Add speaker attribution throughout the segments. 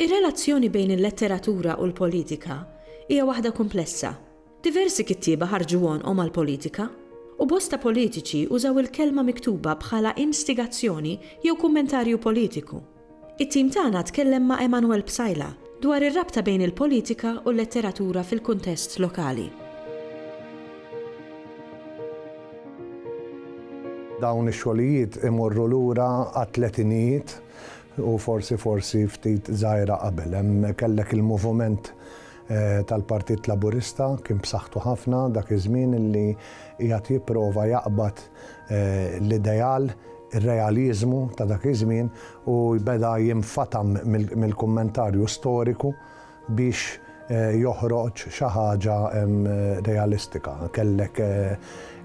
Speaker 1: Ir-relazzjoni bejn il-letteratura u l-politika hija waħda kumplessa, Diversi kittieba ħarġu għonqhom għall-politika, u bosta politiċi użaw il-kelma miktuba bħala instigazzjoni jew kummentarju politiku. It-tim tagħna tkellem ma' Emanuel Psaila dwar ir-rabta bejn il-politika u l-letteratura fil-kuntest lokali.
Speaker 2: Dawn ix-xogħlijiet imorru lura għat-tletinijiet u forsi forsi ftit żgħira qabel. Hemm kellek il-moviment tal-Partit Laburista kien b'saħħtu ħafna dak iż-żmien illi qiegħed jipprova jaqbad l-ideal, ir-realiżmu ta' dak iż-żmien u beda jinfatam mill-kummentarju storiku biex joħroġ xi ħaġa realistika. Kellek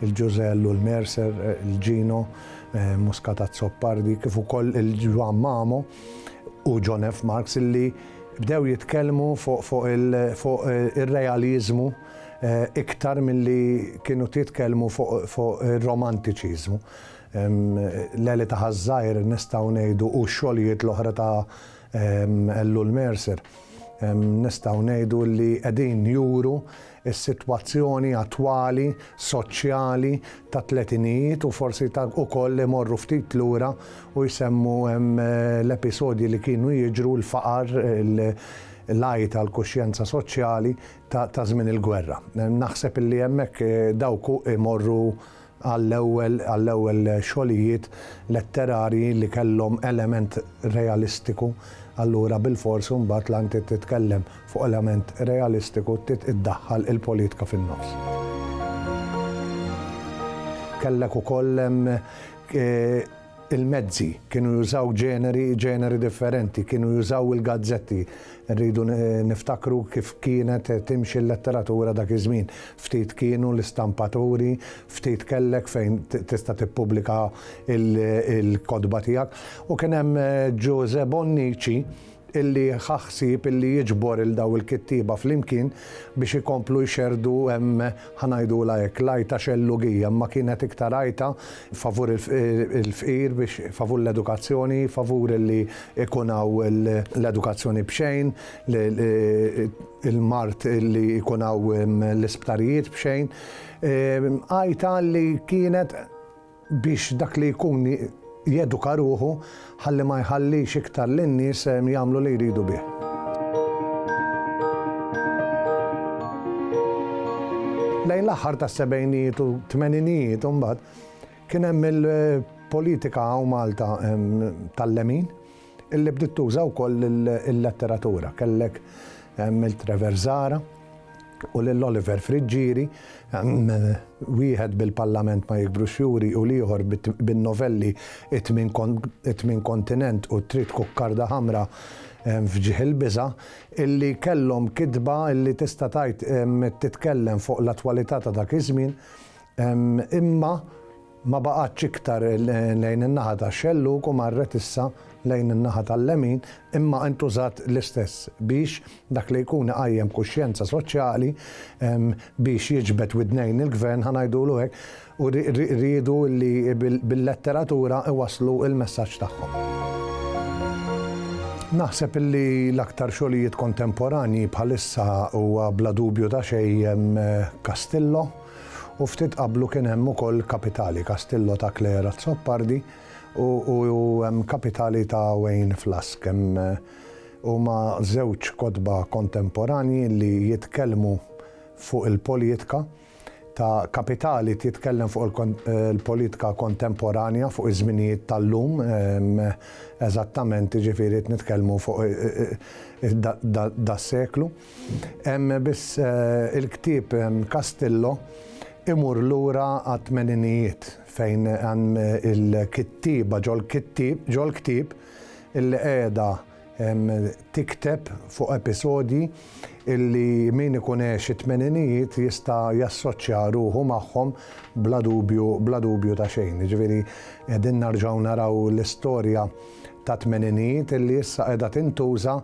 Speaker 2: il-Ġużell u l-Mercer, il-Ġino, Muscat Azzopardi kif ukoll il-Ġwann Mamo u John F. Marks illi Bdew jitkellmu fuq ir-realiżmu iktar milli kienu titkellmu fuq ir-romantiċiżmu. L-Għeli ta' Ħaż-Żgħir nistgħu ngħidu u x-xogħlijiet l-oħra ta' Ellul Mercer nistgħu ngħidu li qegħdin juru is-sitwazzjoni attwali soċjali tat-tletinijiet u forsi ta' ukoll imorru ftit lura u jsemmu hemm l-episodji li kienu jiġru, l-faqar, l-għajt għall-kuxjenza soċjali ta' żmien il-gwerra. Naħseb illi hemmhekk dawk imorru għall-ewwel xogħlijiet letterarji li kellhom element realistiku, allura bilfors imbagħad la inti titkellem fuq element realistiku trid iddaħħal il-politka fin-nofs. Kellek ukoll Il-mezzi kienu jużaw ġeneri ġeneri differenti, kienu jużaw il-gazzetti. Irridu niftakru kif kienet timxi l-letteratura dak iż-żmien. Ftit kienu l-istampaturi, ftit kellek fejn tista' tippubblika l-kotba tiegħek. U kien hemm Ġużè Bonnici, illi ħa ħsieb illi jiġbor lil dawn il-kittieba flimkien biex ikomplu jxerrdu hemm, ħa ngħidulha hekk, l-għajta xellugija, imma kienet iktar għajta favur il-fqir biex favur l-edukazzjoni, favur illi jkun hawn l-edukazzjoni b'xejn, il-mard illi jkun hawn l-isptarijiet b'xejn, għajta li kienet, biex dak li jkun jeduka ruħu ħalli ma jħallix iktar lin-nies jagħmlu li jridu bih. Lejn l-aħħar tas-sebgħinijiet u tmeninijiet imbagħad kien hemm il-politika hawn Malta tal-lemin illi bdiet tuża wkoll il-letteratura. Kellek Milt Trevor Zara u lil Oliver Friggieri, wieħed bil-Parlament ma jikbrux juri u l-ieħor bin-novelli It-Tmien Kontinent u Trid Kukkarda Ħamra f'Ġieħ il-Biża', illi kellhom kitba illi tista' tgħid titkellem fuq l-attwalità ta' dak iż-żmien, imma Ma baqgħetx iktar lejn in-naħa tax-xellug u marret issa lejn in-naħa tal-lemin, imma intużat l-istess biex dak li jkun iqajjem kuxjenza soċjali, biex jiġbed widnejn il-Gvern, ħa ngħidulu hekk, u riedu li bil-letteratura iwasslu l-messaġġ tagħhom. Naħseb li l-aktar xogħlijiet kontemporanji bħalissa huwa bla dubju ta' xejn Castillo, u ftit qablu kien hemm ukoll kapitali Castillo ta' Claire Azzopardi u hemm kapitali ta' Wayne Flask. Hemm huma żewġ kotba kontemporanji li jitkellmu fuq il-politka ta' kapitali titkellem fuq il-politka kontemporanja fuq iż-żminijiet tal-lum eżattament jiġifieri qed nitkellmu fuq das-seklu. Hemm biss il-ktieb Castillo imur lura għat-tmeninijiet fejn hemm il-kittieba ġol-ktieb illi qiegħda tikteb fuq episodji illi min ikun għex it-tmeninijiet jista' jassoċċja ruħu magħhom bla dubju bla dubju ta' xejn. Jiġifieri qegħdin nerġgħu naraw l-istorja tat-tmeninijiet illi issa qiegħda tintuża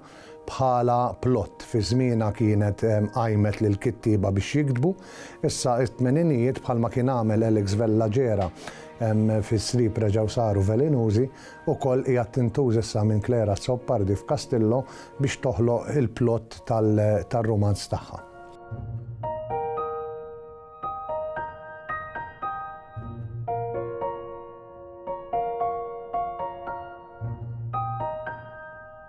Speaker 2: bħala plott fi żmienha kienet qajmet lill-kittieba biex jiktbu, issa it-tmeninijiet bħalma kien għamel Alex Vella Gera fi Sriep reġgħu saru velinużi, ukoll qiegħed tintuż issa minn Claire Azzopardi f'Castillo biex toħloq il-plott tar-rumanz tagħha.